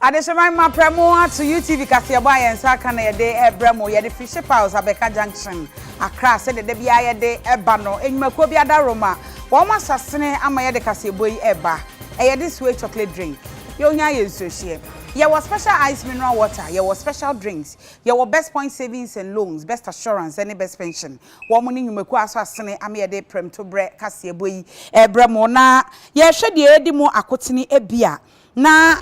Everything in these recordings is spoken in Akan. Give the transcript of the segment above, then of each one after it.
Adehyema mma prɛmo ato UTV kaseɛbɔ a yɛn nsa aka na yɛde rebrɛ mo. Yɛde firi Ship House, Abeka Junction, Accra, sɛdeɛ da biara yɛde ba no. Nnwumakuo bi adaworoma, wɔn asasene ama yɛde kaseɛbɔ yi reba. Ɛyɛ de Sway Chocolate Drink. Yɛn hia yɛ nsuo hyeɛ. Yɛwɔ Special Ice Mineral Water, yɛwɔ Special Drinks, yɛwɔ Best Point Savings and Loans, Best Assurance, ne Best Pension. Wɔn ne nnwumakuo a asɔasene ama yɛde prɛmtoberɛ kaseɛbɔ yi rebrɛ mo na yɛrehwɛ deɛ ɛredi mo akotene ebia na.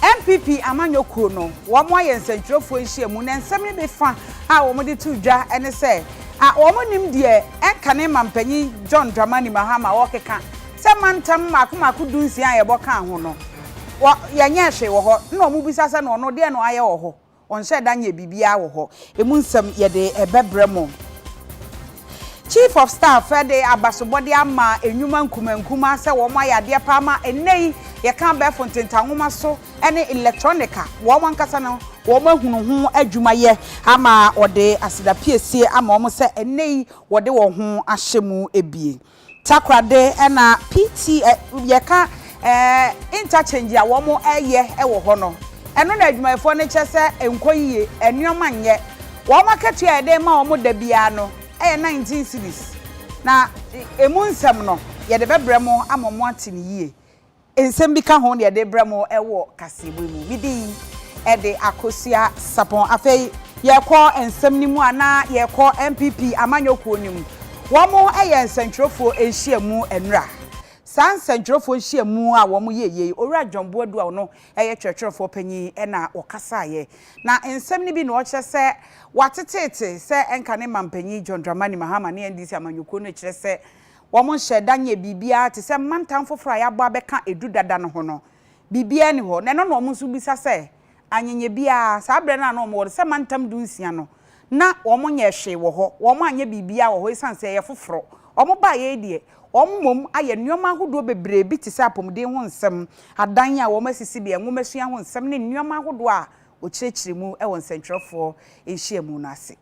NPP amanyɔ kuo no wɔn ayɛ nsɛntwerɛfoɔ nhyiamu na nsɛm no bi fa a wɔn de to dwa ne sɛ a wɔn nnim deɛ ɛnkane manpanyin John Dramani Mahama ɔrekeka sɛ mantam mmaako mmaako du nsia a yɛbɔ kaa ho no wɔ yɛnyɛɛ hwee wɔ hɔ na wɔn bisa sɛ na ɔno deɛn na wayɛ wɔ hɔ. Ɔnhyɛ da nyɛ biribiara wɔ hɔ. Emu nsɛm yɛde bɛbrɛ mo. Chief of Staff de abasobɔde ama nnwuma nkumaa nkumaa sɛ wɔn ayɛ adeɛ paa ma ɛnnɛ yi yɛka abɛɛfo ntentanwoma so ne electronic a wɔn ankasa no wɔn ahunu ho adwuma yɛ ama ɔde aseda piesie ama wɔn sɛ ɛnnɛ yi wɔde wɔn ho ahyɛ mu abien. Takoradi na PT ɛ yɛka ɛ interchange a wɔn ɛyɛ wɔ hɔ no, ɛno na adwumayɛfoɔ no kyɛ sɛ ɛnkɔ yiye, nnoɔma nnyɛ. Wɔn akatua a yɛde ma wɔn da biara no ɛyɛ nineteen cedis, na ɛ ɛmu nsɛm no yɛde bɛbrɛ mo ama moate no yie. Nsɛm bi ka ho na yɛde rebrɛ mo wɔ kaseɛbɔ yi mu. Me din de Akosua Sapon. Afei yɛrekɔ nsɛm no mu a, na yɛrekɔ NPP amanyɔkuo no mu. Wɔyɛ nsɛntwerɛfoɔ nhyiamu nnora. Saa nsɛntwerɛfoɔ nhyiamu a wɔyɛeɛ yi, Owura John Boadu a ɔno yɛ twerɛtwerɛfoɔ panin na ɔkasaeɛ. Na nsɛm no bi na ɔkyerɛ sɛ wateteete sɛ ɛnka ne manpanin John Dramani Mahama ne NDC amanyɔkuo no kyerɛ sɛ, Wɔnhyɛɛ da nyɛɛ biribiara te sɛ mmantam foforo a yɛabɔ abɛka edu dada no ho no. Biribiara nni hɔ, na ɛno na wɔn nso bisa sɛ anyɛnyɛ biara. Saa bere no a na wɔwɔ no sɛ mantam dunsia no, na wɔnyɛɛ hwee wɔ hɔ. Wɔanyɛ biribiara wɔ hɔ esiane sɛ ɛyɛ foforo. Wɔbaeɛ yi deɛ, wɔn mmom ayɛ nneɛma ahodoɔ bebree bi te sɛ apɔmuden ho nsɛm, adan a wɔasisi bea, nwomasua ho nsɛm ne nneɛma ahodoɔ a wɔkyerɛkyerɛ mu wɔ nsɛntwerɛfoɔ nhyiamu no ase.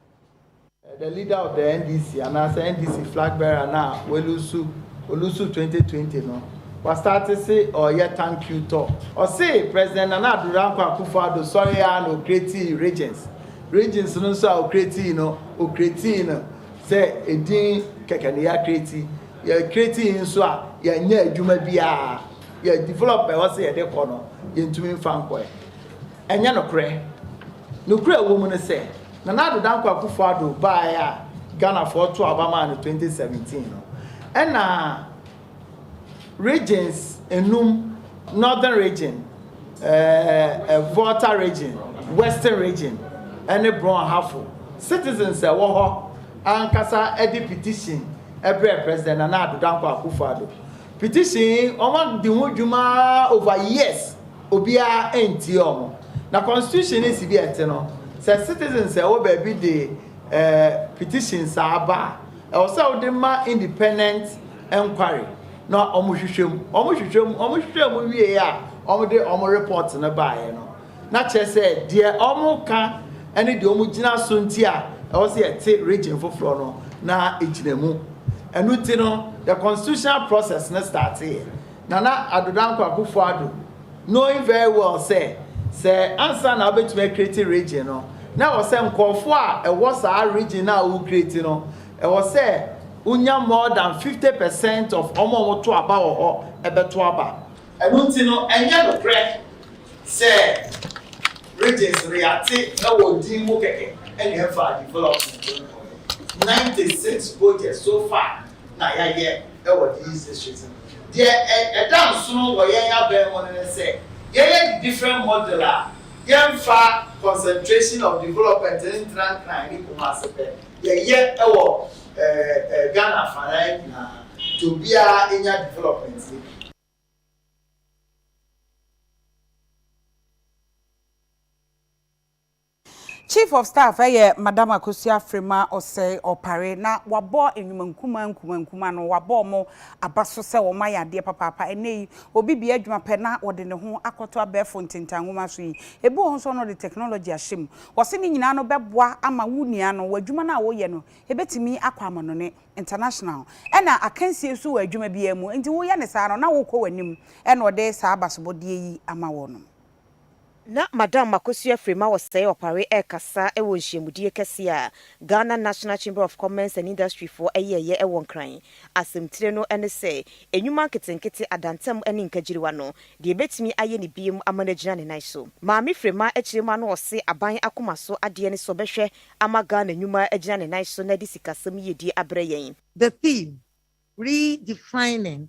The leader of the NDC anaasɛ NDC flag bearer no a walusu olusu 2020 no wa start se ɔɔyɛ thank you tour. Ɔse President Nana Addo Dankwa Akufo Addo sɔree aa na ɔcreatii regions. Regions no nso a ɔcreatii no, ɔcreatii no sɛ edin kɛkɛ na ya creatii. Yɛ creatii nso a yɛanyɛ adwuma biaa. Yɛ develop ɛwɔ se yɛde kɔ no yɛntumi mfa nkɔɛ. Ɛnyɛ nokorɛ. Nokorɛ a ɛwɔ mu ne sɛ, Nana Addo Dankwa Akufo Addo baeɛ a Ghanafoɔ too aba maa no 2017 no, ɛna regions nnum, Northern Region, ɛɛɛ Volta Region, Western Region ne Brɔnhafo citizens a ɛwɔ hɔ ankasa de petition brɛɛ President Nana Addo Dankwa Akufo Addo. Petition yi, wɔadi ho dwuma ara over years. Obiara antie wɔn. Na constitution no si bi a ɛte no, sɛ citizens a ɛwɔ baabi de eh, petition saa ba a, ɛwɔ sɛ wode ma independent enquiry na wɔn hwehwɛ mu. Wɔn hwehwɛ mu, wɔn hwehwɛ mu wie a, wɔn de wɔn report no baeɛ no, na kyerɛ sɛ deɛ wɔn ka ɛne deɛ wɔn gyina so nti a ɛwɔ sɛ yɛte region foforɔ no na egyina mu. Ɛno nti no, the constitutional process no starteeɛ. Nana Addo Dankwa Akuffo Addo knowing very well sɛ sɛ ansa na wobɛtumi a create region no na ɛwɔ sɛ nkurɔfoɔ a ɛwɔ saa region no a wo create no ɛwɔ sɛ wo nya more than 50 percent of wɔn a wɔto aba wɔ hɔ ɛbɛto aba. Ɛno nti no ɛnyɛ nokorɛ sɛ regions no yɛate ɛwɔ din mu kɛkɛ ɛna ɛfa development no kɔeɛ. 96 projects so far na yɛayɛ ɛwɔ these districts no. Deɛ ɛda nsono wɔ yɛn abɛn ho no ne sɛ yɛyɛ the different model a yɛmfa concentration of development no ntena Nkran ne Kumasi pɛ, yɛyɛ wɔ Ghana afanaa nyinaa nti obiara nya development no bi. Chief of Staff yɛ Madam Akosua Afrima Osei Opare na wabɔ nnwuma nkumaa nkumaa nkumaa no, wabɔ wɔn aba so sɛ wɔn ayɛ adeɛ papaapa. Ɛnnɛ yi, obi bia adwuma pɛ na ɔde ne ho akɔto abɛɛfo ntentan nwoma so yi, ebi wɔ ho nso a na ɔde technology ahyɛ mu. Wɔse ne nyinaa no bɛboa ama wo nua no, w'adwuma no a woyɛ no, ɛbɛtumi akɔ amanɔne, international. Ɛna akansie nso wɔ adwuma biara mu, enti woyɛ no saa no na worekɔ w'anim, ɛna ɔde saa abasobɔdeɛ yi ama wɔnom. Ná Madam Makosua Frema Osei Opare rekasa wɔ nhyiamudie kɛseɛ a Ghana National Chamber of Commerce and Industry foɔ yɛeɛ wɔ Nkran. Asɛmtire no ne sɛ, Nnwuma Nketenkete, Adantam ne Nkagyiriwa no, Deɛ Yɛbɛtumi Ayɛ Ne Biom Ama No Agyina Ne Nan So. Maame Frema kyerɛ mu ano ɔse aban akoma so adeɛ ne sɛ ɔbɛhwɛ ama Ghana nnwuma agyina ne nan so na de sikasɛm yiedie abrɛ yɛn. The theme, Re-defining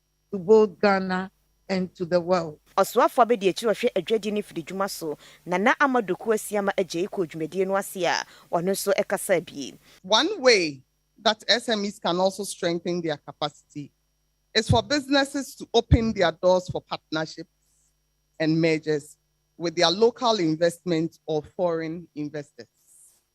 to both Ghana and to the world. Ɔsoafoɔ abɛdi akyire ɔhwɛ adwadie ne mfididwuma so, Nana Amadou Kouassiama Adjei kɔɔ dwumadie no ase a ɔno nso kasaa bi. One way that SMEs can also strengthen their capacity is for businesses to open their doors for partnerships and mergers with their local investment or foreign investors.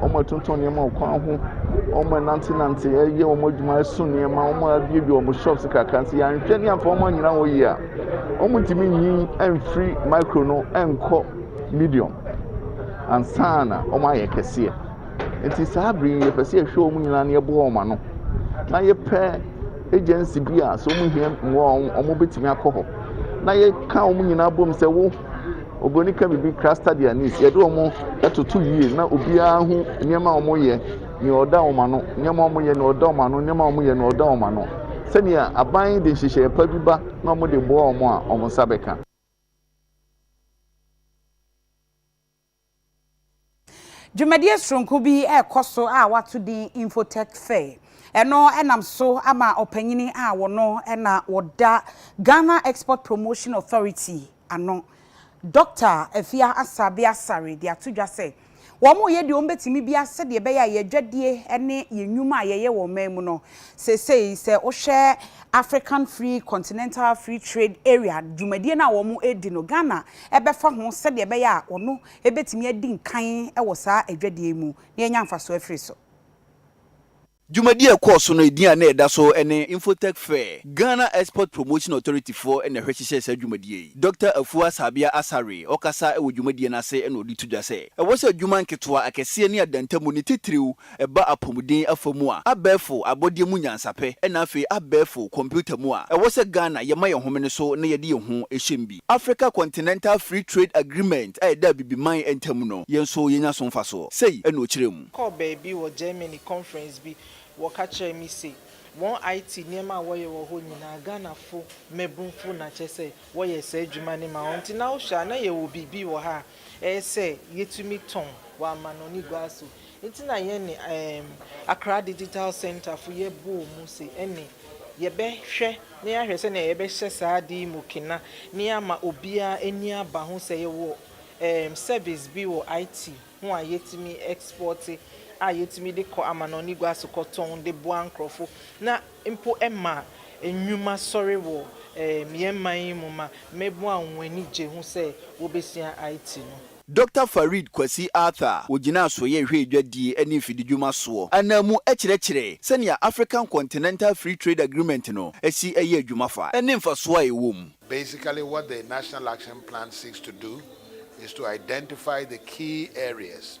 Wɔtontɔn nneɛma wɔ kwan ho, wɔnantenante yɛ wɔn adwuma, ɛso nneɛma, wɔabuebue wɔn shops kakra. Nti yɛanhwɛ ne yɛamfa wɔn annyina hɔ yie a, wɔntumi nyin mfiri micro no nkɔ medium ansa na wɔayɛ kɛseɛ. Nti saa bere yi yɛpɛ sɛ yɛhwɛ wɔn nyinaa na yɛboa wɔn ano na yɛpɛ agency bi a sɛ wɔhia mmoa a wɔbɛtumi akɔ hɔ na yɛka wɔn nyinaa bom sɛ wo Oburoni ka biribi kra study and needs. Yɛde wɔn toto yie na obiara hu nneɛma a wɔyɛ, nea ɔda wɔn ano, nneɛma a wɔyɛ, nea ɔda wɔn ano, nneɛma a wɔyɛ, nea ɔda wɔn ano. Sɛnea aban de nhyehyɛe pa bi ba na wɔde boa wɔn a, wɔn nsa bɛka. Dwumadie soronko bi rekɔ so a wɔato din Infotech Fair. Ɛno nam so ama ɔpanyini a wɔno na wɔda Ghana Export Promotion Authority ano, Dɔkta Afia Assabi Asare de ato dwa sɛ wɔreyɛ deɛ wɔbɛtumi biara sɛdeɛ ɛbɛyɛ a yɛn adwadie ne yɛn nnwuma a yɛyɛ wɔ ɔman mu no Seesei sɛ wohwɛ African Free Continental Free Trade Area dwumadie no a wɔredi no, Ghana bɛfa ho sɛdeɛ ɛbɛyɛ a ɔno bɛtumi adi nkan wɔ saa adwadie yi mu na yɛanya mfasoɔ afiri so. Dwumadie a ɛkɔɔ so no, edin a na ɛda so ne Infotech Fair. Ghana Export Promotion Authority foɔ na ɛhwɛhyehyɛɛ saa dwumadie yi. Dɔkta Afua Sabea Asare ɔkasa wɔ dwumadie no ase na ɔde to dwa sɛ, ɛwɔ sɛ adwuma nketewa, akɛseɛ ne adantamu ne titiriw Ɛba apɔmuden afa mu a, abɛɛfo abɔdeɛ mu nyansapɛ, ɛna afei abɛɛfo kɔmputa mu a, ɛwɔ sɛ Ghana yɛma yɛn homene so na yɛde yɛn ho hyɛm bi. Africa Continental Free Trade Agreement a ɛda Abibiman ntam no, yɛn nso yɛnya so mfasoɔ. Sei na ɔkyerɛɛ mu. Mekɔɔ baabi wɔ Germany conference bi, wɔka kyerɛɛ me se, wɔn IT nneɛma a wɔyɛ wɔ hɔ nyinaa, Ghanafo mmabunfo na kyerɛ sɛ wɔyɛ saa adwuma no ma wɔn. Nti na wohwɛ a, na yɛwɔ biribi wɔ ha a ɛyɛ sɛ yɛtumi tɔn wɔ amanɔne gua so. Nti na yɛne Accra Digital Centre fo yɛ bɔɔ mu se ɛne yɛbɛ hwɛ na yɛahwɛ sɛnea yɛbɛ hyɛ saa ade yi mu kena na yɛama obiara ani aba ho sɛ yɛwɔ service bi wɔ IT ho a yɛtumi export a yɛtumi de kɔ amanɔne gua so kɔtɔn de boa nkorɔfo na mpo ma nnwuma sɔre wɔ yɛn man yi mu ma mmabun a wɔn ani gye ho sɛ wobesua IT no. Dɔkta Farid Kwasi Arthur, ogyinaa Soyɛ Hwɛ Adwadie ne Mfididwuma soɔ ananmu kyerɛkyerɛɛ sɛnea African Continental Free Trade Agreement no si yɛ adwuma fa ne mfasoɔ a ɛwɔ mu. Basically what the National Action Plan seeks to do is to identify the key areas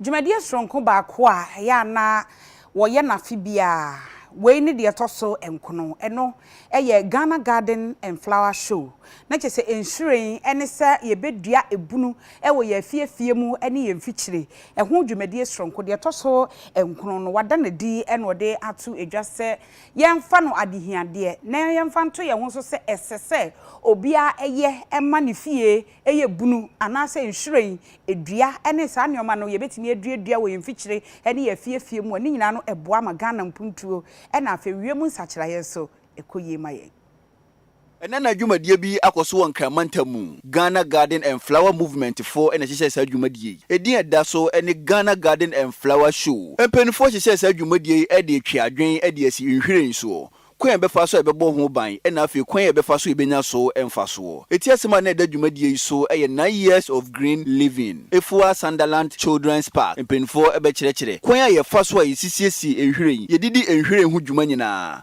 Dwumadie soronko baako a ɛyɛ a na wɔyɛ no afe biara, wei ne deɛ ɛtɔ so nkono, ɛno yɛ Ghana Garden and Flower Show, na kyerɛ sɛ nhyiren ne sɛ yɛbɛdua ebunu wɔ yɛn afie afie mu ne yɛn mfikyire, ɛho dwumadie soronko, deɛ ɛtɔ so nkono no, wɔada no adi na wɔde ato dwa sɛ, yɛmfa no adehiadeɛ na yɛmfa nto yɛn ho so sɛ ɛsɛ sɛ obiara yɛ ma ne fie yɛ bunu anaasɛ nhwiren dua ne saa nneɛma no yɛbɛtumi aduadua wɔ yɛn mfikyire ne yɛn afiefie mu a, ne nyinaa no ɛboa ma Ghana mpuntuo na afei wiem nsakyeraeɛ nso ɛkɔ yie ma yɛn. Ɛnnɛ na dwumadie bi akɔ so wɔ Nkran mantam mu. Ghana Garden and Flower Movement foɔ na ɛhyehyɛɛ saa dwumadie yi. Ɛdin a ɛda so ne Ghana Garden and Flower Show. Mpaninfoɔ hyehyɛɛ saa dwumadie yi de retwe adwene de asi nhwiren soɔ, kwan a yɛbɛfa so a yɛbɛbɔ ho ban na afei kwan a yɛbɛfa so a yɛbɛnya so mfasoɔ. Ɛti asɛm a na ɛda dwumadie yi so yɛ Nine Years of Green Living, Afua Sanderland Children's Park. Mpaninfoɔ bɛkyerɛkyerɛ kwan a yɛfa so a yɛsisiesie nhwiren, yɛdidi nhwiren ho dwuma nyinaa.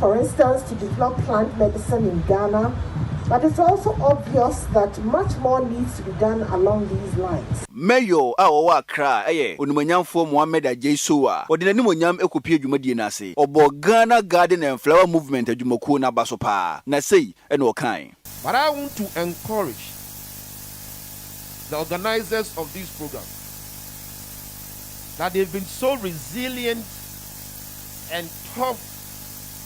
For instance, she did not plant medicine in Ghana, but it's also obvious that much more needs to be done along these lines. Mayor a ɔwɔ Accra yɛ Onimanyamfoɔ Mohammed Adjei Sow a ɔde n'animuonyam kɔpuee dwumadie no ase. Ɔbɔɔ Ghana Garden and Flower Movement adwumakuo no aba so paa, na sei na ɔkae. But I want to encourage the organisers of this programme that they've been so resilient. and tough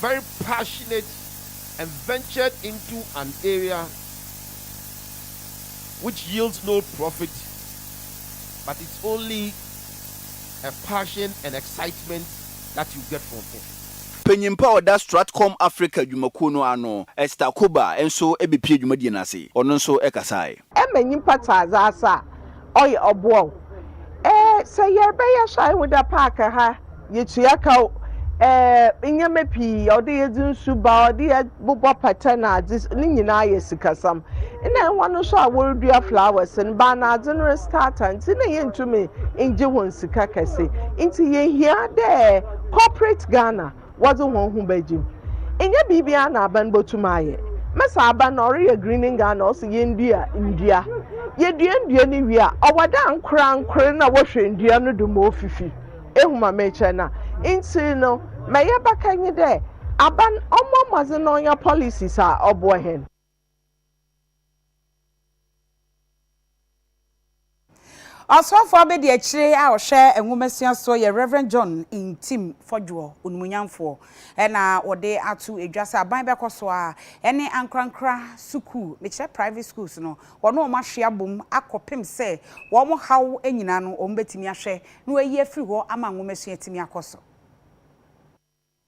very passionate and ventured into an area which yields no profit but it's only a passion and excitement that you get from it. Panyin pa a ɔda Stratcom Africa dwumakuo no ano, Esther Koba nso bɛpuee dwumadie no ase. Ɔno nso kasaeɛ. ma nyimpa tse adze ase a, ɔyɛ ɔboa o, eh, sɛ yɛrebɛyɛ so a, ihu dɛ park ha yetua ka o, eh, ndzɛmba pii, ɔwɔ yɛdze nsu ba, ɔwɔ dɛ yɛbobɔ pata na adze, ne nyina yɛ sikasɛm. Nna hɔn so a worudua flowers no, banadze no restart a, ntsi nna yenntum nngye hɔn sika kɛse. Ntsi yehia dɛ corporate Ghana. wɔdze hɔnho bɛgye mu. Nnyɛ biribiara na aban botum ayɛ. Mesa aban na ɔreyɛ green in Ghana ɔse yendua ndua. Yedua ndua no wie a, ɔwɔ dɛ ankorankor na wɔhwɛ ndua no do ma ofifi. Ehu ma merekyerɛ no a? Ntsi no, ma yɛbɛka nye dɛ, aban ɔmbɔ mbɔdzen na ɔnya policies a ɔboa hɛn. Ɔsomafoɔ abɛdiakyire a ɔhwɛ nwomasua soɔ yɛ Rev. John Ntim Fodwoɔ, Onumunyamfoɔ, na ɔde ato dwa sɛ aban bɛkɔ so ara ne ankorankora sukuu, mekyerɛ private schools no, wɔne wɔn ahwe abom akɔpem sɛ wɔn haw nyinaa no wɔbɛtumi ahwɛ na wɔayi afiri hɔ ama nwomasua atumi akɔ so.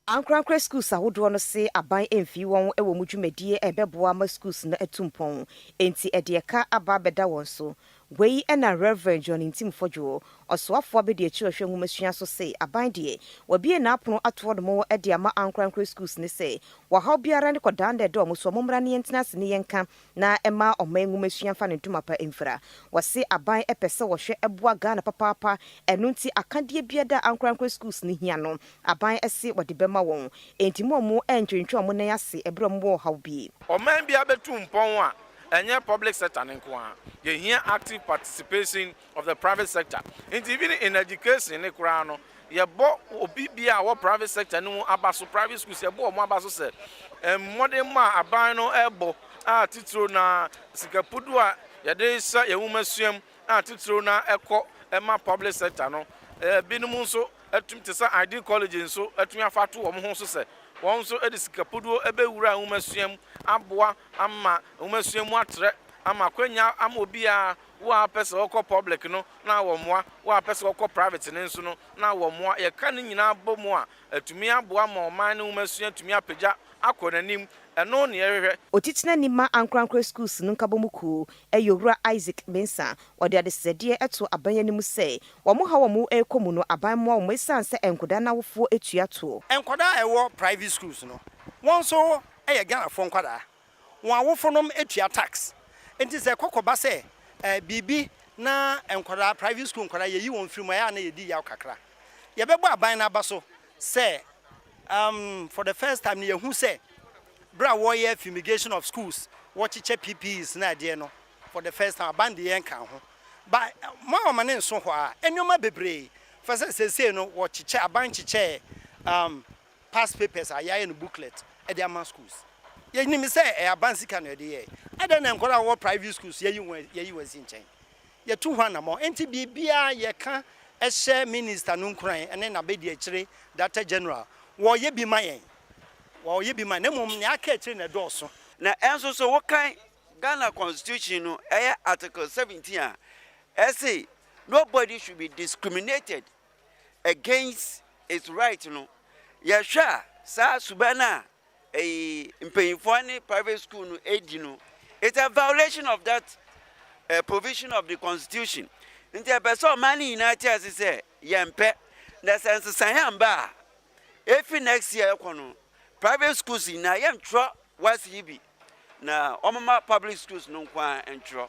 Ankorankora Skuls ahodoɔ no se aban mfii wɔn wɔ mu dwumadie a ɛbɛboa ama Skuls no atu mpɔn, enti ɛde ɛka aba abɛda wɔn so. Wei na Rev. John Ntim Fodwoɔ, Ɔsoafoɔ Abadiakyire Ɔhwɛ Nwomasua so se aban deɛ, wabue n'apono ato wɔn wɔ de ama Ankorankora Skuls no sɛ, wɔ haw biara ne kɔdaa no a ɛda wɔn so a, mommra ne yɛntena ase ne yɛnka na ɛma ɔman nwomasua fa ne ntoma pa mfira. Wɔse aban pɛ sɛ wɔhwɛ boa Ghana papaapa, ɛno nti akadeɛ biada a ankorankorɛ schools no hia no, aban se wɔde bɛma wɔn. Enti mo a ɔmo ntwentwe ɔmo nan ase ɛberɛ a ɔmo wɔ ɔhaw bi. Ɔman biara bɛtu mpɔn a, ɛnyɛ public sector no nko ara. Yɛhia active participation of the private sector nti even in education ne koraa no yɛbɔ obi bi a wɔ private sector no mu aba so private schools yɛbɔ wɔn aba so sɛ mmɔdenmɔ a aban no ɛbɔ a titiro na sikapudu a yɛde hyɛ yɛn nwoma suam a titiro na ɛkɔ ɛma public sector no ebinom nso ɛtum te sɛ id college nso ɛtumi afa ato wɔn ho so sɛ wɔn nso ɛde sikapuduo ɛbɛwura nwoma suam aboa ama nwoma suam atrɛ ama akwanya ama obiara Wo a wopɛ sɛ wokɔ public no na wɔmmoa, wo a wopɛ sɛ wokɔ private no nso no na wɔmmoa. Yɛka ne nyinaa bɔ mu a, atumi aboa ma ɔman no nwomasua atumi apagya akɔ n'anim. Ɛno ne yɛhwehwɛ. Otitenani ma Ankorankoro Schools no nkabɔmu kuo yɛ Owura Isaac Mensah. Ɔde adesrɛdeɛ too aban anim sɛ, wɔn haw a wɔrekɔ mu no, aban mmoa wɔn ɛsiane sɛ nkwadaa no awofoɔ tua toɔ. Nkwadaa a ɛwɔ private schools no, wɔn nso yɛ Ghanafoɔ nkwadaa. wɔn awofonom tua tax. Nti sɛ ɛkɔ kɔba sɛ biribi na nkwadaa, private school nkwadaa yɛyi wɔn firi mu a, ɛyɛ a na yɛdi yaw kakra. Yɛbɛbɔ aban no aba so sɛ um, for the first time no yɛhu sɛ berɛ a wɔyɛ fumigation of schools, wɔkyekyɛ PPEs na adeɛ no, for the first time aban de yɛn nkaa ho. Ba ma wɔn ne nso hɔ a, nneɛma bebree, fɛ sɛ seesei no wɔkyekyɛ, aban kyekyɛɛ um, past papers a yɛayɛ no booklet de ama schools. Yɛnim sɛ ɛyɛ aban sika na yɛde yɛ. Adɛn na nkwadaa a wɔwɔ private schools yɛyi wɔn yɛyi wɔn asi nkyɛn? Yɛtu ho anammɔn. Enti biribiara yɛka hyɛ minister no nkuran ne n'abadiakyire Darector General. Wɔyɛ bi ma yɛn. Wɔyɛ bi ma yɛn. Na mmom nea aka akyire na ɛdɔɔso. Na ɛnso so wokan Ghana constitution no ɛyɛ article seventeen a, ɛse nobody should be discriminated against its right no, yɛhwɛ a saa suban no a ɛyi mpanyinfoɔ ne private school no ɛdi no, it's a violation of that uh, provision of the constitution. Nti ɛpɛ sɛ ɔman no nyinaa te ase sɛ yɛmpɛ na sɛ nsesan amba a efi next year ɛkɔ no private schools nyinaa yɛntwerɛ wasi yi bi na ɔmoma public schools no nko ara ntwerɛ.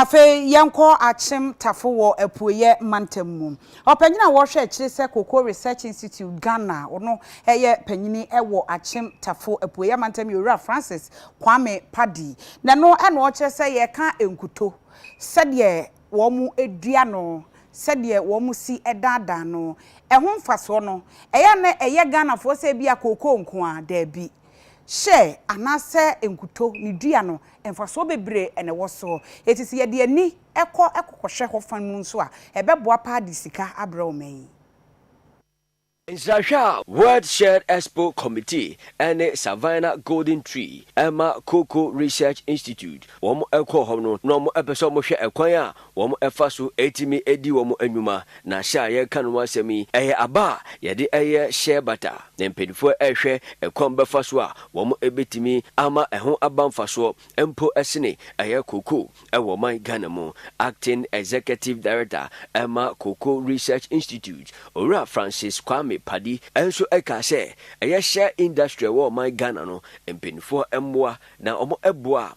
Afei yɛnkɔ Akyem Tafo wɔ Apueɛ Mantam mu. Ɔpanyin a ɔhwɛ akyire sɛ Cocoa Research Institute Ghana no yɛ panyini wɔ Akyem Tafo Apueɛ Mantam yɛ Owura Francis Kwame Paddy. Na ɛno na ɔkyerɛ sɛ yɛka nkuto, sɛdeɛ wɔdua no, sɛdeɛ wɔsi daadaa no, ɛho mfasoɔ no. Ɛyɛ a na ɛyɛ Ghanafoɔ sɛ ebia cocoa nko ara? Daabi. hyɛ anaasɛ nkuto ne dua no, mfasoɔ bebree na ɛwɔ soɔ. Enti sɛ yɛde ani kɔ kɔkɔhwɛ hɔ fa mu nso a, ɛbɛboa paa de sika abrɛ ɔman yi. Nsrahwɛ a World Shared Expo Committee ne Savannah Golden Tree ma Cocoa Research Institute wɔn kɔɔ hɔ no, na wɔpɛ sɛ wɔhwɛ kwan a wɔfa so tumi di wɔn nnwuma, na hyɛ a yɛreka no ho asɛm yi, ɛyɛ aba a yɛde yɛ hyɛ bata. Na mpanyimfo rehwɛ kwan bɛfa so a wɔbetumi ama ɛho aba mfasoɔ mpo sene ɛyɛ cocoa wɔ ɔman Ghana mu. Acting Executive Director ma Cocoa Research Institute, Owura Francis Kwame Paddy nso kaa sɛ, ɛyɛ hyɛ industry a ɛwɔ ɔman Ghana no, mpanyimfoɔ mmoa na wɔboa a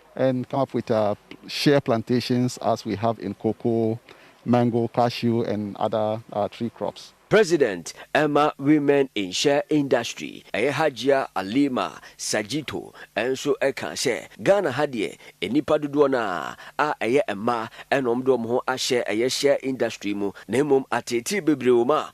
and come up with share plantations as we have in cocoa, mango, cashew and other tree crops. President ɛma Women in Shea Industry ɛyɛ Hajia Alima Sajito nso kaa sɛ Ghana ha deɛ nnipa dodoɔ no ara a ɛyɛ mmaa na wɔde wɔn ho ahyɛ ɛyɛ shea industry mu na mmom ateetee bebree wɔ mu a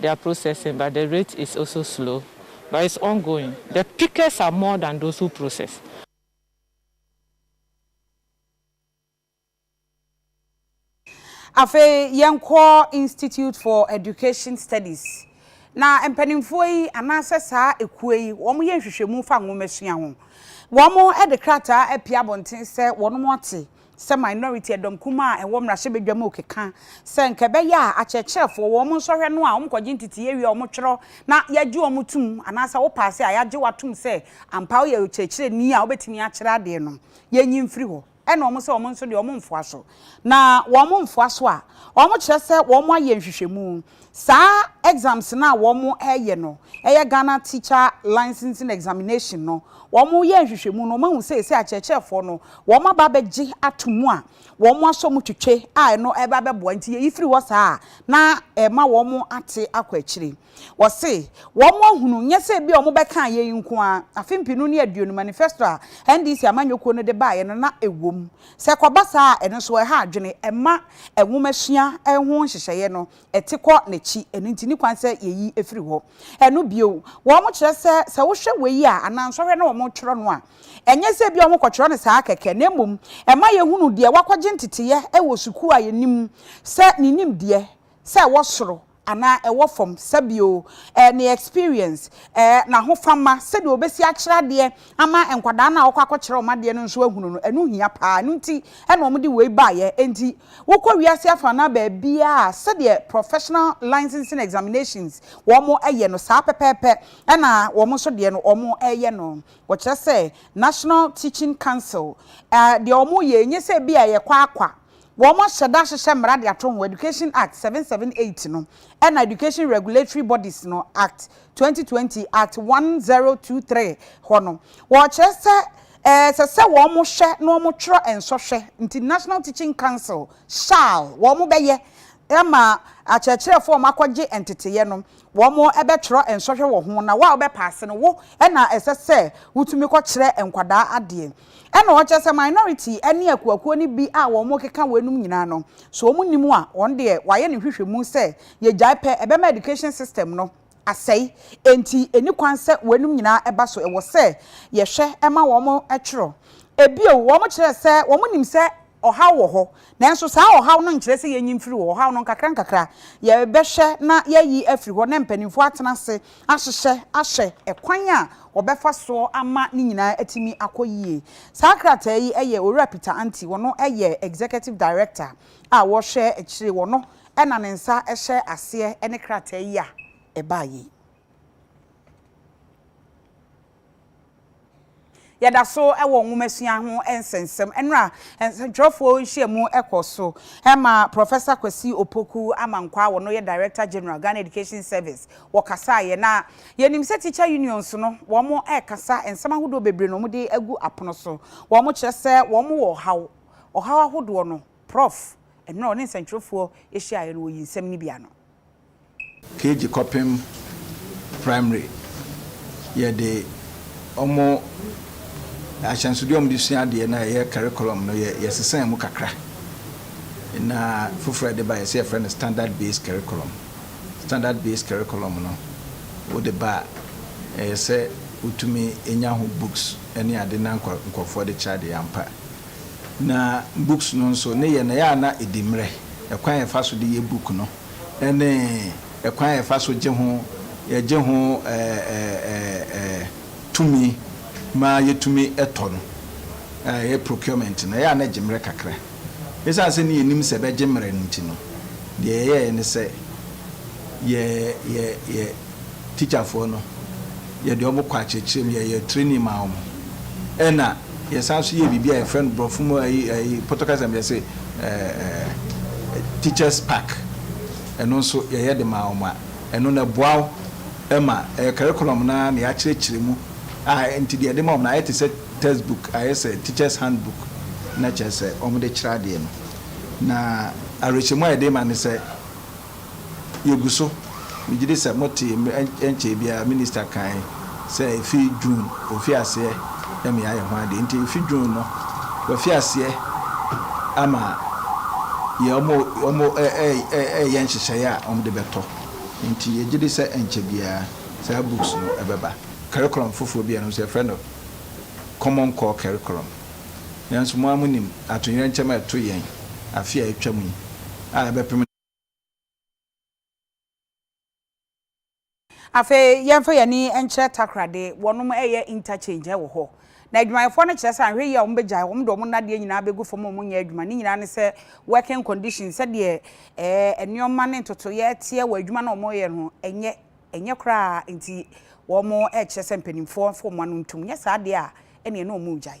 They are processing but the rate is also slow but it's ongoing, the pickers are more than those who process. Afei yɛnkɔ Institute for Education Studies, na mpanimfoɔ yi anaasɛ saa ekuo yi wɔyɛ nhwehwɛmu fa nwomasua ho. Wɔde krataa apue abɔnten sɛ wɔn ate sɛ minority, ɛdɔm kumaa a ɛwɔ mmarahyɛbadwa mu rekeka sɛ nka ɛbɛyɛ a akyerɛkyerɛfoɔ wɔn nsɔhwɛ no a wɔkɔgye nteteyɛ wie a wɔtwerɛ na yɛgye wɔn tom anaasɛ wo paase a yɛagye wo atom sɛ ampa woyɛ ɔkyerɛkyerɛni a wobɛtumi akyerɛ adeɛ no yɛnyi mfiri hɔ ɛna wɔn sɛ wɔn nso deɛ wɔmfoa so na wɔmfoa so a wɔkyerɛ sɛ wɔayɛ nhwehwɛmu Saa exams no a wɔn ɛyɛ no ɛyɛ Ghana Teacher Licensing Examination no, wɔn yɛ nhwehwɛmu no wɔn ahu sɛ ɛsɛ akyerɛkyerɛfoɔ no wɔn aba abɛgye ato mu a wɔn asɔ mu twetwe a ɛno ɛba bɛboa nti yɛyi firi hɔ saa a na ɛma wɔn ate akɔ akyire. Wɔse wɔn ahunu nyɛ sɛ ebia wɔn bɛkaa yei nko ara, afe mpenu ne aduonu manifesto a NDC amanyɔkuo no de baeɛ no na ɛwɔ mu Sɛ ɛkɔba saa a, ɛno nso ɛha adwene. Ɛma nwomasua ho nhyehyɛeɛ no te kɔ n'akyi. Ɛno nti, ɛni kwan sɛ yɛyi firi hɔ. Ɛno bio, wɔkyerɛ sɛ, sɛ wohwɛ wei a, anaa nsɔhwɛ na wɔtwerɛ no a, ɛnyɛ sɛ ebia wɔkɔtwerɛ no saa kɛkɛ, na mmom ɛma yɛhunu deɛ wakɔgye nteteeɛ wɔ sukuu a yɛnim sɛ ne nimdeɛ sɛ ɛwɔ soro anaa ɛwɔ fam, sɛbio, eh, ne experience, eh, n'ahofama, sɛdeɛ ɔbɛsi akyerɛ adeɛ ama nkwadaa no a ɔkɔ akɔkyerɛ wɔn adeɛ no nso ahunu no, ɛno hia pa ara, ɛno nti na wɔde wei baeɛ, enti wokɔ wiase afaanaa baabiara a, sɛdeɛ professional licensing examinations wɔyɛ no saa pɛpɛɛpɛ na wɔn nso deɛ no wɔyɛ no, wɔkyerɛ sɛ National Teaching Council, eh, deɛ wɔyɛ, ɛnyɛ sɛ bi a yɛkɔ akwaa. Wɔahyɛ da ahyehyɛ mmara de ato ho, Education Act, seven seven eight no, ɛnna Education Regulatory Bodies no, Act, twenty twenty, Act, one zero two three, hɔ no, wɔkyerɛ sɛ ɛsɛ sɛ wɔhwɛ na wɔtwerɛ nsɔhwɛ nti National Teaching Council shall wɔbɛyɛ ama akyerɛkyerɛfoɔ a wɔakɔgye nteteeɛ no, wɔbɛtwerɛ nsɔhwɛ wɔ ho, na wo a wobɛpaase no, wo na ɛsɛ sɛ wotumi kɔkyerɛ nkwadaa adeɛ. Ɛna ɔkyɛ sɛ minority ne akuakuo no bi a wɔn keka weinom nyinaa no, sɛ wɔn nnim a, wɔn deɛ wɔayɛ no nhwehwɛmu sɛ yɛgyae pɛ ɛbɛma education system no asɛe, enti ɛni kwan sɛ weinom nyinaa ɛba so, ɛwɔ sɛ yɛhwɛ ma wɔn twerɛ. Bio, wɔn kyerɛ sɛ wɔn nim sɛ Ɔhaw wɔ hɔ, nanso saa ɔhaw no nkyerɛ sɛ yɛanyin mfiri hɔ. Ɔhaw no, nkakrankakra yɛbɛhwɛ na yɛayi afiri hɔ na mpanimfoɔ atena ase ahyehyɛ ahwɛ ɛkwan a wɔbɛfa soɔ ama ne nyinaa atumi akɔ yie. Saa krataa yi yɛ Owura Peter Anti, ɔno yɛ Executive Director a wɔhwɛ akyire, ɔno na ne nsa hyɛ aseɛ ne krataa yi a ɛbaeɛ yi. Yɛda so wɔ nwomasua ho nsɛnsɛm mmerɛ a nsɛntwerɛfoɔ nhyiamu kɔ so ma Professor Kwasi Opoku Amankwah a ɔno yɛ Director General Ghana Education Service wɔkasaeɛ. Na yɛnim sɛ Teacher Unions no wɔn rekasa nsɛm ahodoɔ bebree na wɔde agu apono so. Wɔn kyerɛ sɛ wɔn wɔ ɔhaw, ɔhaw ahodoɔ no Prof. Mmerɛ a ɔne nsɛntwerɛfoɔ hyiaeɛ no ɔyii nsɛm no bi ano. Keegi kɔpem Praemere, yɛde wɔn ahyɛnsodeɛ a wɔde sua adeɛ no a ɛyɛ curriculum no yɛ yɛsesaa mu kakra na foforɔ a yɛde baeɛ sɛ yɛfrɛ no standard based curriculum. Standard based curriculum no wode ba a ɛyɛ sɛ wotumi nya ho books ne ade na nk nkurɔfoɔ de kyerɛ adeɛ ampa. Na books no nso ne yɛ no ɛyɛ a na ɛdi mmerɛ, ɛkwan a yɛfa so de yɛ book no. ne ɛkwan a yɛfa so gye ho yɛgye ho tumi ma yɛtumi tɔ no, ɛyɛ procurement no, ɛyɛ a na ɛgye mmerɛ kakra. Ɛsiane sɛ na yɛnim sɛ ɛbɛgye mmerɛ no nti no, deɛ yɛyɛeɛ ne sɛ yɛ yɛ yɛ tikyafoɔ no yɛde wɔn kɔ akyerɛkyerɛ mu, yɛyɛ training maa wɔn, ɛna Yɛsan nso yɛɛ biribi a yɛfrɛ no Borɔfo mu ayi ayi Pɔtɔkasa mu yɛse ɛɛ teachers pack. Ɛno nso yɛyɛ de maa wɔn a ɛno no ɛboa wo ma ɛyɛ curriculum no ara na yɛakyerɛkyerɛ mu a nti deɛ yɛde ma wɔn no ayɛ te sɛ text book ayɛ sɛ teachers hand book na kyerɛ sɛ wɔde kyerɛ adeɛ no. Na awerɛhyɛmu a yɛde ma ne sɛ Yegu so. Megye di sɛ motee mmere nkyɛe biara Minista kae sɛ efi June mfiaseɛ na meayɛ ho adeɛ. Nti efi June no wɔafi aseɛ ama yɛ wɔn reyɛ nhyehyɛeɛ a wɔde bɛtɔ. Nti yɛgye di sɛ ɛnkyɛ biara saa books no bɛba. Curriculum foforɔ bi a yɛnom nso yɛfrɛ no Common Core Curriculum. Nanso mo ara monim atoyerɛnkyɛm a ɛto yɛn afe a atwam yi a ɛbɛpem. Afei yɛmfa yɛn ani nkyerɛ Takoradi, wɔnom reyɛ interchange wɔ hɔ. Na adwumayɛfoɔ no kyerɛ sɛ anhwɛ yie a wɔbɛgyae, wɔn de wɔn nnadeɛ nyinaa bɛgu fam a wɔnyɛ adwuma. Ne nyinaa ne sɛ working conditions, sɛdeɛ nneɛma ne ntotoeɛ teɛ wɔ adwuma no a wɔreyɛ no ho, ɛnyɛ ɛnyɛ koraa nti wɔrekyerɛ sɛ mpanimfoɔ mfa wɔn ano ntom, nyɛ saa deɛ a ɛnneɛ na wɔregyae.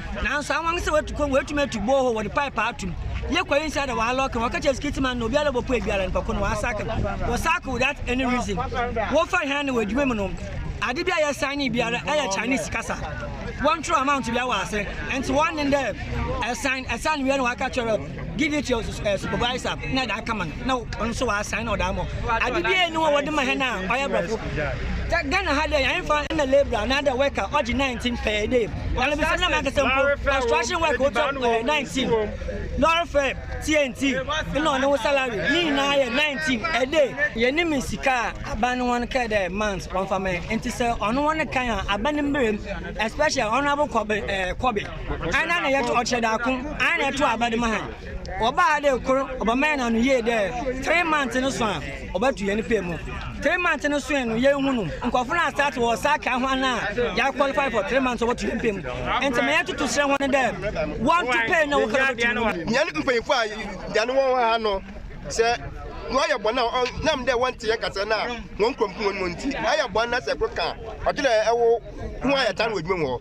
Nanso awan sɛ watu kɔm, watumi atu borehole, wɔde pipe atom, yɛ kwae nsa na wɔalɔke, wɔaka kyerɛ skit man na obiara a ɔbɛpue biara nipa ko no wɔasackle, wɔsackle without any reason, wɔfa hɛn na wɔ edwuma mu no, ade bi a yɛsignee biara yɛ Chinese kasa, wɔntwerɛw amount biara wɔ ase, ntsi wɔnye dɛ ɛsan, ɛsan wie na wɔaka kyerɛ. Giving to your supervisor na da kama no na ɔnso wa assign na ɔda mo ade bi enu a wɔde ma hɛn a ɔyɛ brɔfo Ghana ha dɛ yɛn fa na labourer na da worker ɔgye 19 per day ɔno bi sɛ na mɛ kɛsɛ mpo construction work ɔtwa 19 lɔre fɛ TNT na ɔne wo salary ne nyinaa yɛ 19 a day yɛn ne me sika a aban no wɔn kɛ dɛ month wɔn fa mɛ nti sɛ ɔno wɔn kan a aban no mmerɛ especially honourable kɔbe kɔbe. Ana na yɛto ɔkyerɛ daako, ana na yɛto abɛde ma ha. Wɔba ha dɛ kor, wɔbɛma yɛn ano yie dɛ three months no so a, wɔbɛto yɛn pɛ mu. Three months no soe no, yɛnhu no. Nkorɔfo no astaate wɔ sakra ho ana a yɛa qualify for three months a wɔbɛto yɛn pɛ mu. Ntsi ma yɛtoto serɛ hɔn dɛ wɔnto pɛ na wɔkɔ do bɛto hɔn mu. Hɛn mpanyimfo a yɛnye hɔn wɔ ha no, sɛ wɔayɛ bɔn a ɔnam dɛ wɔnntse hɛn kasaa na hɔn kɔn pu hɔn mu ntsi, ayɛ bɔn na sɛ kor kã a, ɔkyerɛ dɛ wo ho ayɛ tan wɔ edwuma mu hɔ.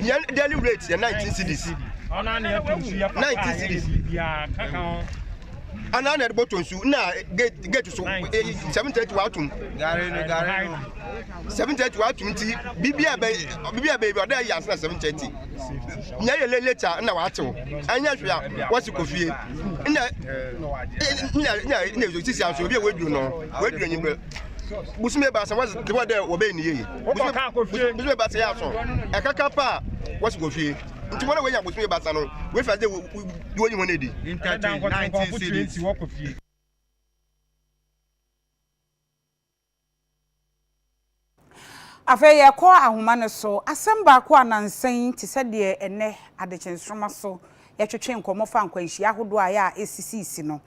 Yɛn daily rate yɛ 19 cedis. 19 cedis. Ana na ɛde bɔtɔ nsu na gate gate so eyi 730 watum. Gari no gari no. 730 watum ti bibi a bɛ bibi a bɛ bi ɔda yɛ ansa na 730. Nya yɛ late late a na watew. Anya hwe a wɔsi kɔ fie. Na na na na sisi anso obi a waduru no. Waduru nyi bɛ. busumi ebaasa wɔsi de wɔ dɛ wɔbɛyɛ ne yie busumi ebaasa yɛ aso ɛkaka paa wɔsi kɔ fie nti wɔn a wɔnya busumi ebaasa no wɔfi ase de wɔyi wɔn adi. interchange nineteen cities. Afei yɛkɔ ahoma no so. Asɛm baako a nansa yi te sɛ deɛ ɛnnɛ adekyensoroma so yɛtwetwe nkɔmmɔ fa nkwanhyia ahodoɔ a ɛyɛ a ɛsisiisi no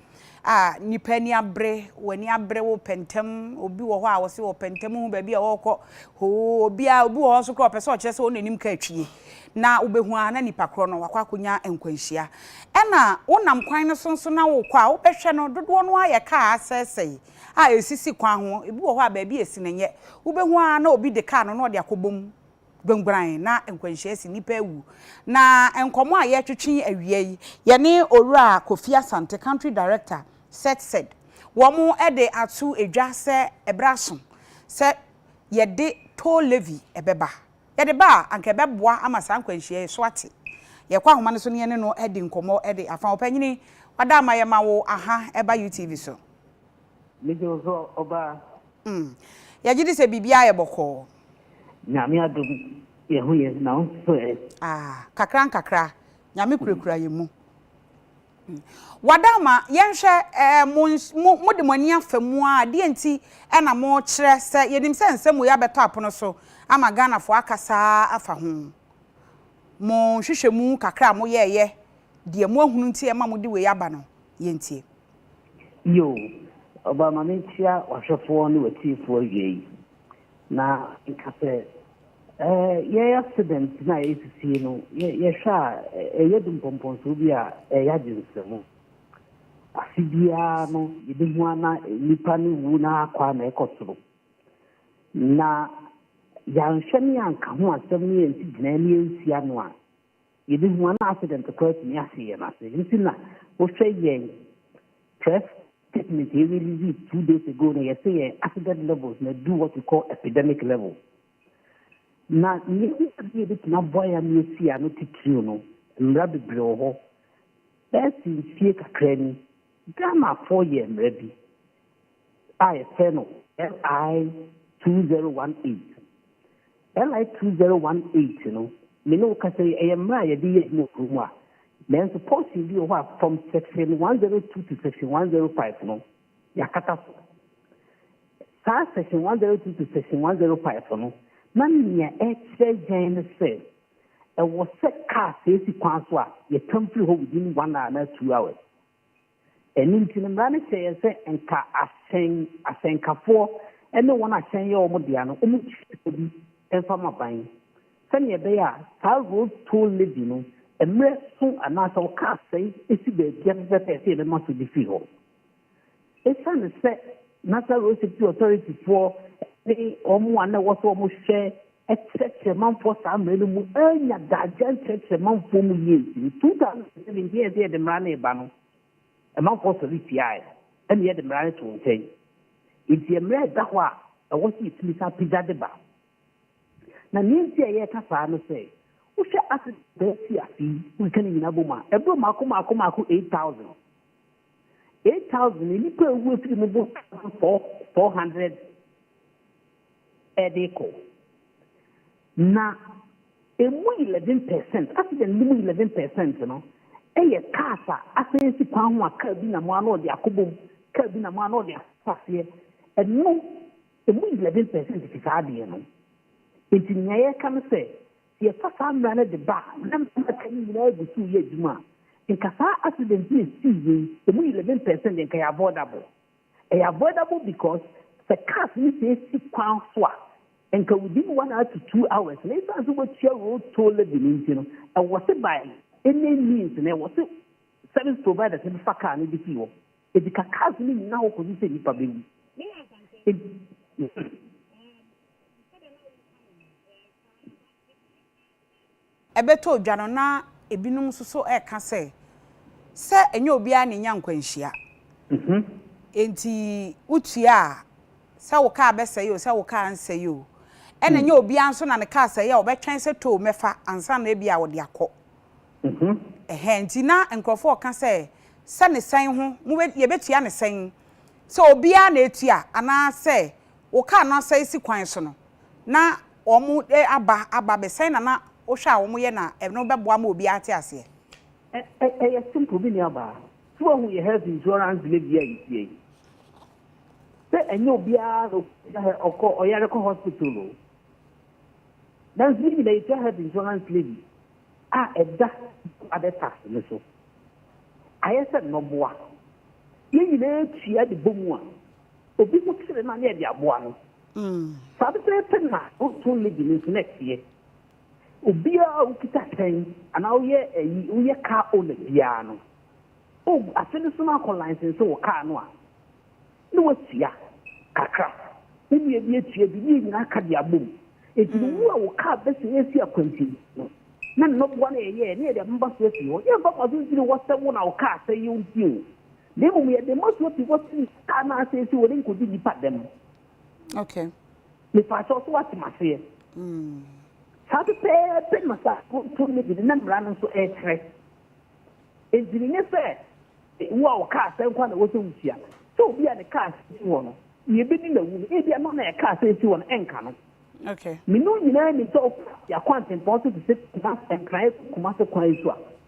a nnipa ani abere, wɔn ani abere, wopɛ ntɛm, obi wɔ hɔ a ɔse ɔpɛ ntɛm, wohu baabi a ɔrekɔ, hoo, obiara, obi wɔ hɔ nso koraa ɔpɛ sɛ ɔkyerɛ sɛ ɔno n'anim ka atwie, na wobɛhu ara na nipa korɔ no wakɔ akɔnya nkwanhyia. Ɛna wonam kwan no so nso na worekɔ a, wobɛhwɛ no, dodoɔ no ara yɛ kaa asɛesɛe, a esisi kwan ho, ebi wɔ hɔ a baabi a esi no nyɛ, wubehu ara na obi de kaa no na ɔde akɔbɔ mu guanguan na nkwanhyia asi, nnipa awu. Na nkɔmmɔ a yɛretwetwe yi awia yi, yɛne Owura Kofi Asante, Country Director, SETSED, wɔn de ato dwa sɛ ɛberɛ aso sɛ yɛde toll levy bɛba. Yɛde ba a, anka ɛbɛboa ama saa nkwanhyia yi so ate. Yɛkɔ ahoma no so na yɛne no adi nkɔmmɔ de afa. Ɔpanyini, wɔada ama yɛma wo aha ɛba UTV so. Megye wo so ɔbaa. Mm, yɛgye di sɛ biribiara yɛ bɔkɔɔ. Nyame adom yɛn ho yɛ na wo nso ɛ? Ah, kakra nkakra, Nyame kurakura yɛn mu. Mm, wada ama yɛnhwɛ eh, mo, mo, mo de mo ani afa mu ara, deɛ nti na mo kyerɛ sɛ yɛnim sɛ nsɛm wei abɛtɔ apono so ama Ghanafoɔ akasa ara afa ho? Mo nhwehwɛmu kakra a mo yɛɛyɛ, deɛ mo ahunu nti ɛma mo de wei aba no, yɛntie. Yiw, Ɔba, ma minkyia w'ahwɛfoɔ ne w'atiefo awiei. Na nka sɛ, Eh, yɛn asedɛnte no a ɛresisi no, yɛhwɛ a, ɛyɛ dumpɔmpɔnsoɔ bi a ɛyɛ agyensɛm. Afe biara no, yebehu ara na nnipa no rewu na akɔ ara na ɛrekɔ soro. Na yɛanhwɛ ne yɛanka ho asɛm ne yɛansi gyinae ne yɛansi ano a, Yebehu a na accident koraa tumi ahye yɛn ase. Ɛno nti na wohwɛ yɛn press statement a yɛ release two days ago no, yɛse yɛn accident levels no adu what we call epidemic levels. Na nea ehu ade a ebetumi aboa yɛn ama yɛasi ano titiriw no, mmara bebree wɔ hɔ. Ɛresi mfie kakraa ni, Ghanafoɔ yɛɛ mmara bi a yɛfrɛ no LI 2018. LI two zero one eight no, me ne wo kasa yi, ɛyɛ mmerɛ a yɛde yɛ adwuma wɔ kuro mu a, nanso portion bi wɔ hɔ a, from section one zero two to section one zero five no, yɛakata so. Saa section one zero two to section one zero five no, na nea ɛkyerɛ yɛn ne sɛ, ɛwɔ sɛ car sɛ esi kwan so a, yɛtwam firi hɔ within one hour anaa two hours. Ɛno nti no, mmara no hyɛ yɛn sɛ nka ahyɛn asɛnkafoɔ ne wɔn a hyɛn yɛ wɔn dea no, wɔntua sika bi mfa ma ban, sɛdeɛ ɛbɛyɛ a saa road toll levy no, mmerɛ so anaasɛ ɔka asɛe si baabi a pɛpɛɛpɛ a ɛsɛ yɛbɛma so de firi hɔ. Ɛsiane sɛ National Road Safety Authority foɔ ne wɔn a na ɛwɔ sɛ wɔhwɛ ɛkyerɛkyerɛ manfoɔ saa mmerɛ no mu annya daagya nkyerɛkyerɛ manfoɔ mu yie nti no, 2007 deɛ ɛsɛ yɛde mmara no reba no, manfoɔ sɔre tiaaɛ no, ɛna yɛde mmara no too nkyɛn. Nti ɛmmra ɛda hɔ a ɛwɔ sɛ yɛtumi san pagya de ba. Na deɛ nti a yɛreka saa ne sɛ, wohwɛ Ases Abɛɛ fii ase yi, wokeka ne nyinaa bom a, ɛboro mmaako mmaako mmaako 8,000. 8,000 no, nnipa a ɛwu afiri mu boro 1,400. de kɔ. Na emu eleven per cent, accident no mu eleven per cent no yɛ cars a asan asi kwan ho a car bi nam a na ɔde akɔbɔ mu, car bi nam a na ɔde afa aseɛ. Ɛno, emu eleven per cent fi saa adeɛ no. Nti nea yɛreka ne sɛ, sɛ yɛfa saa mmara no de ba a, na mmara a aka no nyinaa gu so reyɛ adwuma a, nka saa accident yi a ɛsii yei, emu eleven per cent deɛ nka ɛyɛ avoidable. Ɛyɛ avoidable because sɛ cars no sɛe si kwan so a, nka within one hour to two hours na esiane sɛ wobɛtua road toll levy no nti no, ɛwɔ se by any means no ɛwɔ se service providers no bɛfa car no de fii hɔ. Enti ka cars no nnyina hɔ kɔsi sɛ nnipa bɛwu. ɛbɛtɔ dwa no na ebinom nso so reka sɛ, sɛ ɛnyɛ obiara na enya nkwanhyia. Enti wotua a, sɛ wo kaa bɛsɛe o, sɛ wo kaa nsɛe o, ɛna ɛnyɛ obiara nso na ne kaa sɛe a ɔbɛtwɛn sɛ tow mɛfa ansa na ebia ɔde akɔ. Ɛhɛɛ, enti na nkurɔfo reka sɛ, sɛ ne sɛn ho, mobe, yɛbɛtua ne sɛn? Sɛ obiara na etua anaasɛ wo kaa no asɛe si kwan so no, na wɔn aba aba bɛ sɛn na na wohwɛ a wɔn yɛ na ɛno bɛ boa ma obiara ate aseɛ. Ɛ ɛ yɛ simple me nua baa so wahu yɛ health insurance dwuma bi a yɛ tua yi sɛ ɛnyɛ obiara na ɔtua hɛ ɔkɔ ɔyare kɔ hospital o nanso yɛ nyina yɛ tua health insurance levy a ɛda abɛ tax no so ayɛ sɛ nnɔboa yɛ nyinaa tua de bɔ mu a. Ebi mu kyere na yɛde aboa no. Saa pɛpɛɛpɛ na Boston Legion nso na ɛteɛ. Obiara a okita hyɛn anaa woyɛ ayi, woyɛ car owner biara no, ogu afe no so na akɔ license wɔ car no a, na woatua kakra. Wo nua bi atua bi, ne yɛn nyinaa aka de abom. Enti no wo a wo car bɛsɛe afi akwansin no, na nnɔboa no a yɛyɛɛ na yɛde abɛma so afi hɔ. Yɛmfa mfaso nsi ne wɔsɛ wo na wo car sɛe nti o. Na mmom yɛde mmɔsoɔ ti hɔ sene sika no ase sɛ wɔde nkɔdi nnipa dɛm. Okay. Mepa kyɛw so wate maseɛ. Mm. Saa pɛpɛɛpɛ na saa kontom no gyina na mmara no nso ɛkyerɛ. Enti no nyɛ sɛ wo a ɔkaa sɛ nkwa na wɔsɛ wotua. Sɛ obi a ne kaa sɛ si hɔ no, nea ɛbɛdi na wu no, ebia no na ɛkaa sɛ si hɔ no ɛnka no. Okay. Mene wo nyinaa nim sɛ ɔkɔ yɛakɔ antempɔn so te sɛ kuma nkran ɛkɔ kuma se kwan so a.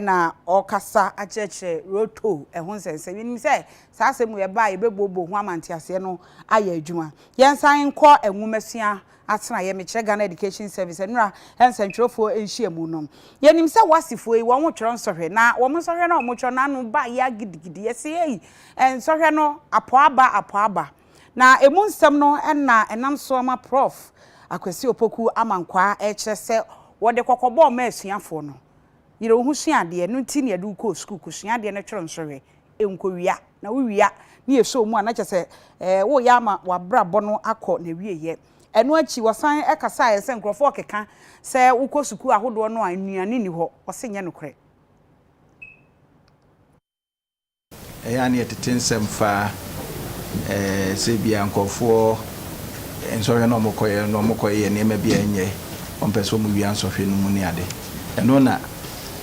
na ɔrekasa akyerɛkyerɛ Roto ho nsɛnsɛm. Yɛnim sɛ saa asɛm wei ɛba a yɛbɛbuobuo ho ama nteaseɛ no ayɛ adwuma. Yɛnsan nkɔ nwomasua atenaeɛ, mekyerɛ Ghana Education Service, nnora nsɛntwerɛfoɔ nhyiamu no. Yɛnim sɛ Wasifoɔ yi wɔtwerɛ nsɔhwɛ na wɔn nsɔhwɛ no a wɔtwerɛ no ano ba yea gidigidi. Yɛse ei nsɔhwɛ no apɔ aba apɔ aba. Na ɛmu nsɛm no na ɛnam so ama Prɔf. Akwasi Opoku Amankwaa rekyerɛ sɛ wɔde kɔkɔbɔ mma asuafoɔ no, Yere wo ho sua adeɛ, ɛno nti na yɛde wo kɔɔ sukuu kɔsua adeɛ no twere nso hwɛ, nkɔwia, na wowia na yɛsɔ wo mu a na kyerɛ sɛ woreyɛ ama w'abrabɔ no akɔ n'awieeɛ. Ɛno akyi wɔsan kasaeɛ sɛ nkurɔfoɔ rekeka sɛ wokɔ sukuu ahodoɔ no a nnuane nni hɔ, wɔse nyɛ nokorɛ. Ɛyɛ a na yɛtete nsɛm fa sɛ ebia nkurɔfoɔ nsɔhwɛ no a wɔkɔyɛ no, wɔkɔyɛ nneɛma bi a ɛnyɛ, wɔmpɛ sɛ wɔwia nsɔhwɛ no mu ne ade. Ɛno na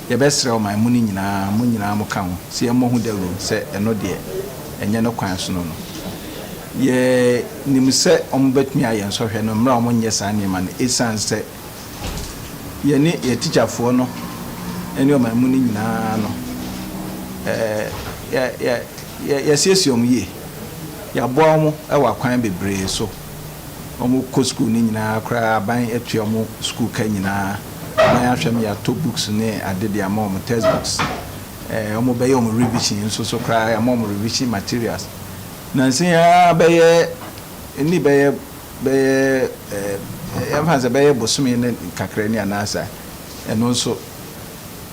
yɛbɛsrɛ wo ma mo no nyinaa, mo nyinaa moka ho sɛ yɛmmɔ ho dawuro sɛ ɛno deɛ ɛnyɛ ne kwan sono no. Yɛnim sɛ wɔbɛtumi ayɛ nsɔhwɛ no mmerɛ a wɔnyɛ saa nneɛma no ɛsiane sɛ yɛne yɛn tikyafoɔ no ne ɔman mu no nyinaa no, yɛasiesie wɔn yie. Yɛaboa wɔn wɔ akwan bebree so. Wɔkɔ sukuu no nyinaa koraa, aban atua wɔn sukuu ka nyinaa. Aban ahwɛ ma yɛatɔ books ne ade de ama wɔn, test books. Wɔbɛyɛ wɔn revision nso so koraa, yɛama wɔn revision materials. Nansa yi ara bɛyɛ, ɛnni bɛyɛ Bɛyɛ ɛɛ yɛmfa no sɛ bɛyɛ bosome ne kakra ni anaa saa. Ɛno nso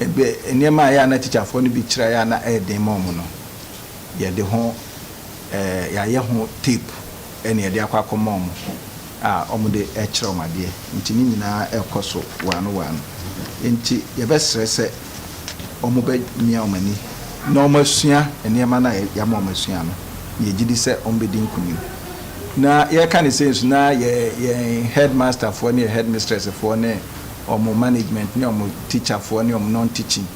ɛbɛ nneɛma a ɛyɛ a na tikyafoɔ no bi kyerɛ a ɛyɛ a na ɛyɛ den ma wɔn no, yɛde ho ɛɛ yɛayɛ ho tape ɛna yɛde akɔ akɔma wɔn a wɔde rekyerɛ wɔn adeɛ. Nti ne nyinaa rekɔ so waano waano. Nti yɛbɛsrɛ sɛ. wɔbɛmia wɔn ani na wɔasua nneɛma no a yɛama wɔasua no, na yɛgye di sɛ wɔbɛdi nkonim. Na yɛreka no sei nso, na yɛn headmasterfoɔ ne yɛn headmistressfoɔ ne wɔn management ne wɔn teacherfoɔ ne wɔn non-teaching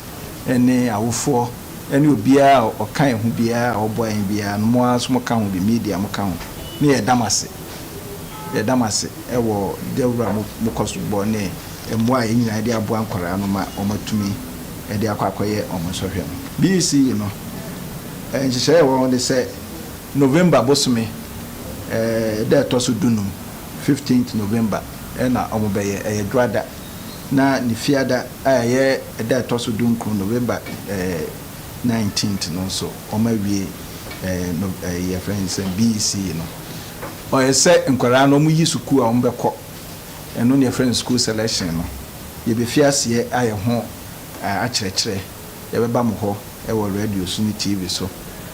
ne awofoɔ ne obiara a ɔka yɛn ho biara a ɔboa yɛn biara no, mo ara nso moka ho bi, media moka ho, na yɛda mo ase. Yɛda mo ase wɔ dawuro a mokɔ so bɔ ne mmoa a yɛn nyinaa de aboa nkwadaa no ma wɔatumi de akɔ akɔyɛ wɔn nsɔhwɛ no. BC. no, nhyehyɛe a ɛwɔ hɔ ne sɛ November bosome da a ɛtɔ so dunum, fifteenth November, na wɔbɛyɛ. Ɛyɛ Dwoada, na ne Fiada a ɛyɛ da a ɛtɔ so dunkron, November nineteenth, no nso, wɔawie Nov. BC. no. Ɔyɛ sɛ nkwadaa no wɔyi sukuu a wɔbɛkɔ. Ɛno na yɛfrɛ no school selection no. Yɛbɛfiri aseɛ ayɛ ho akyerɛkyerɛ. Yɛbɛba mo hɔ wɔ radio so ne TV so,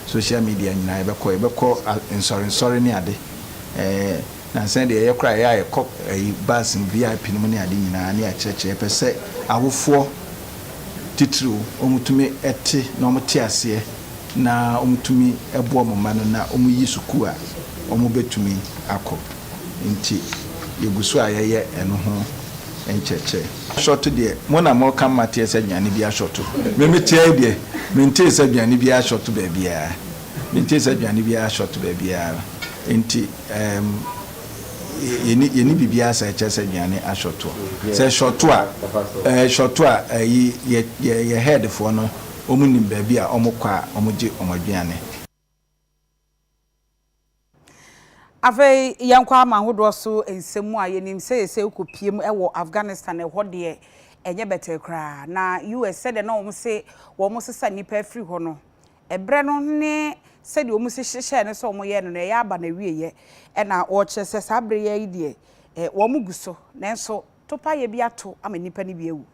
social media nyinaa yɛbɛkɔ. Yɛbɛkɔ nsɔre nsɔre ne ade. Nansa deɛ yɛyɛ koraa, ɛyɛ a yɛkɔ bus mu, VIP no mu ne ade nyinaa ne yɛakyerɛkyerɛ. Yɛpɛ sɛ awofoɔ titiriw wɔn tumi te na wɔn te aseɛ na wɔn tumi boa wɔn mma no na wɔn yi sukuu a wɔn bɛtumi akɔ. nti yegu so a yɛyɛ ɛno ho nkyerɛkyerɛ. Asɔto deɛ mo na moka mmateɛ sɛ aduane bi asɔto. Me meteɛ yi deɛ mentee sɛ aduane biara asɔto baabiara. Mentee sɛ aduane biara asɔto baabiara nti ɛɛm yɛnni yɛnni biribiara saa ɛkyerɛ sɛ aduane asɔto. Sɛ ɛsɔto a ɛsɔto a ɛyi yɛ yɛ yɛ head foɔ no wɔn nim baabi a wɔn kɔ a wɔn gye wɔn aduane. Afei yɛnkɔ aman ahodoɔ so nsɛm mu a, yɛnim sɛ seesei wokɔpue mu wɔ Afghanistan, ɛhɔ deɛ ɛnyɛ bɛtɛɛ koraa. Na US sɛdeɛ na wɔn se wɔn sesa nnipa afiri hɔ no, ɛberɛ no ne sɛdeɛ wɔn si hyehyɛɛ no sɛ wɔn yɛ no no ɛyɛ aba n'awieɛ. Ɛna wɔkyerɛ sɛ saa berɛ yi ara yi deɛ wɔn gu so, nanso topaeɛ bi ato ama nnipa no bi awu.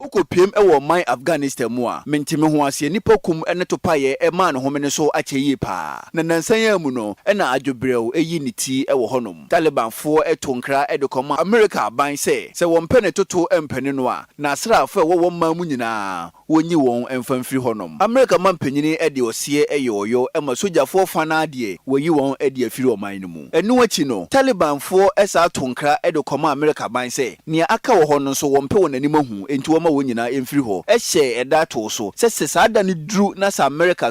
Okopiam wɔ ɔman Afghanistan mu a mente me ho aseɛ. Nnipa kum ne topaeɛ maa no homene so akyɛ yie paa. Na nnansa yi ara mu no na adwobrɛw ayi ne ti wɔ hɔnom. Talibanfoɔ too nkra de kɔmaa Amerika aban sɛ sɛ wɔmpɛ ne toto mpene no a, n'asraafo a ɛwɔ wɔn man mu nyinaa wonyi wɔn mfa mfiri hɔnom. Amerika mampanin de ɔseɛ yɛ ɔyɔ ma sogyafoɔ fa no ara deɛ wɔayi wɔn de afiri ɔman no mu. Ɛno akyi no, Talibanfoɔ san too nkra de kɔmaa Amerika aban sɛ nea aka wɔ hɔ no nso wɔmpɛ wɔn anim ahu enti wɔmma wɔn nyinaa mfiri hɔ hyɛɛ da too so sɛ sɛ saa da no duru na sɛ Amerika